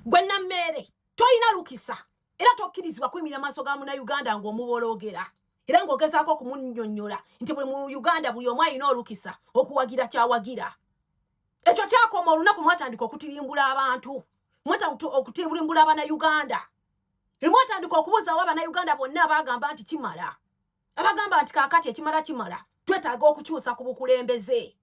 gwe nammeere tolina lukisa era tokkirizibwa kuyimira maaso ga muna uganda ng'omuboloogera era ng'ogezaako okumunyonyola nti buli mu uganda buli omu alina olukisa okuwagira kyawagira ekyo kyakoma olunaku mwatandika okutirimbula abantu mwata okutirimbula abana uganda lwemwatandika okubuuzaawo abana uganda bonna baagamba nti kimala abagamba nti kakati ekimala kimala twetaaga okukyusa ku bukulembeze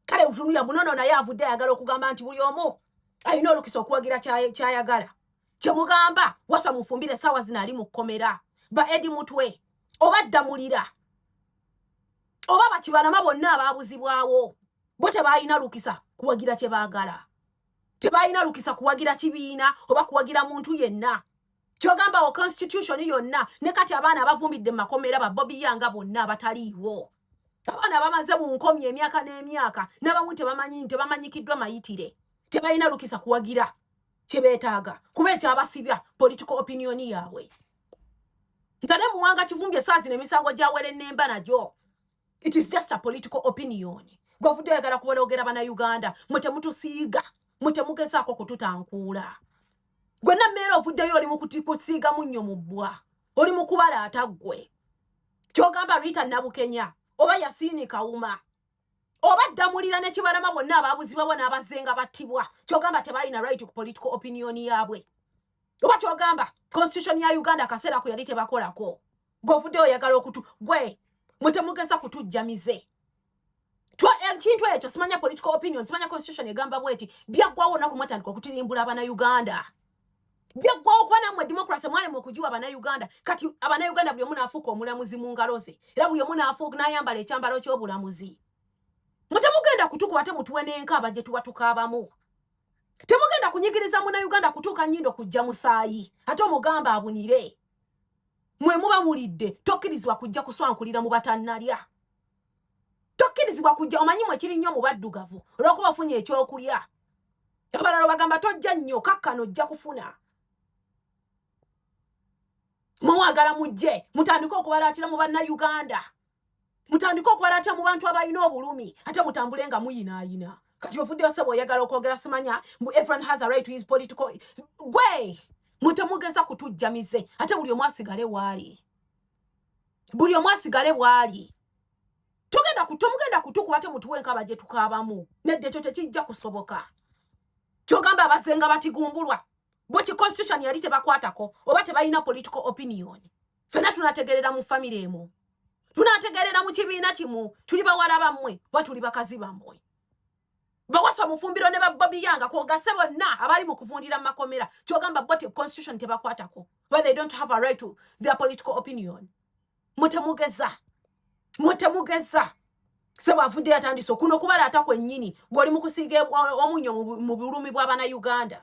kale utunuya bunono naye avudde ayagala okugamba nti buli omu alina olukisa okuwagira kyayagala kyemugamba wasa mufumbire saawa zino ali mu kkomera ba edi mutwe oba ddamulira oba bakibalama bonna abaabuzibwawo bo tebalina lukisa kuwagira kye baagala tebalina lukisa kuwagira kibiina oba kuwagira muntu yenna kyogamba wo constitution yonna ne kati abaana abavumbidde mumakomera babobiyanga bonna abataliiwo abaana bamaze mu nkomi emyaka n'emyaka nabamu tebamanyi tebamanyikiddwa mayitire tebalina lukisa kuwagira kyebetaaga kuba ekyabasibya political opinion yaabwe nga ne muwanga kivumbye saazi nemisango gyawere nemba nagyo it is just a political opinion gwovudde oyagala kuwologera bana uganda mwe temutusiiga mwe temugezaako kututankuula gwenna mmeera ovuddeyo oli mukusiiga munnyo mu bbwa oli mukubalaata ggwe kyogamba rita nabukenya oba yasiini kawuma oba ddamulira nekibalama bonna ababuzibwabwa n'abazenga battibwa kyogamba tebalina right ku political opinion yaabwe oba kyogamba constitution ya uganda akaseera ku yali tebakolako govude oyagala okutu gwe mutemugeza kutujja mize ekintu ekyo simanya political opinion simanya constitution egamba bweti byaggwawo onaku mwatandika okutirimbula abana uganda byaggwawo okuba namwe democracy mwalema okugiwa abana uganda kati abana uganda buli omu naafuuka omulamuzi mu ngalo ze era buli omu naafuuka nayambala ekyambalo kyobulamuzi mutemugenda kutukuba te mutuwe nenkaaba gye tuba tukaabamu temugenda kunyigiriza muna uganda kutuuka nyindo kujja musaayi ate omugamba abunire mwe muba mulidde tokkirizibwa kujja kuswankulira mu batannalya tokkirizibwa kujja omanyi mwe kiri nnyo mu baddugavu olwokuba ofunye ekyokulya abalala bagamba tojja nnyo kakkano ojja kufuna mumwagala mujje mutandike okubalaatira mu bannayuganda mutandike okwalata mu bantu abalina obulumi ate mutambule nga muyinaayina kati ofuddeyo sebo oyagala okwogera simanya mbu everyone has a right to his political gwe mutemugeza kutujja mize ate buli omu asigale waali buli omu asigale bwali tugenda tomugenda kutukuba te mutuwe enkaba gye tukaabamu nedde ekyo tekijja kusoboka kyogamba abazenga batigumbulwa bwe ki constitution yali tebakwatako oba tebalina political opinion fena tunategerera mu famire emu tunategerera mu kibiina kimu tuli bawala bammwe oba tuli bakazi bammwe bawasa omufumbiro ne babobiyanga kwogase bonna abali mu kuvundira mu makomera kyogamba bo constitution tebakwatako where they don't have a right to their political opinion mutemugeza mutemugeza sebo avudde yatandise okuno okubala ata kwennyini ng'oli mu kusiiga omunyo mu bulumi bw'abana uganda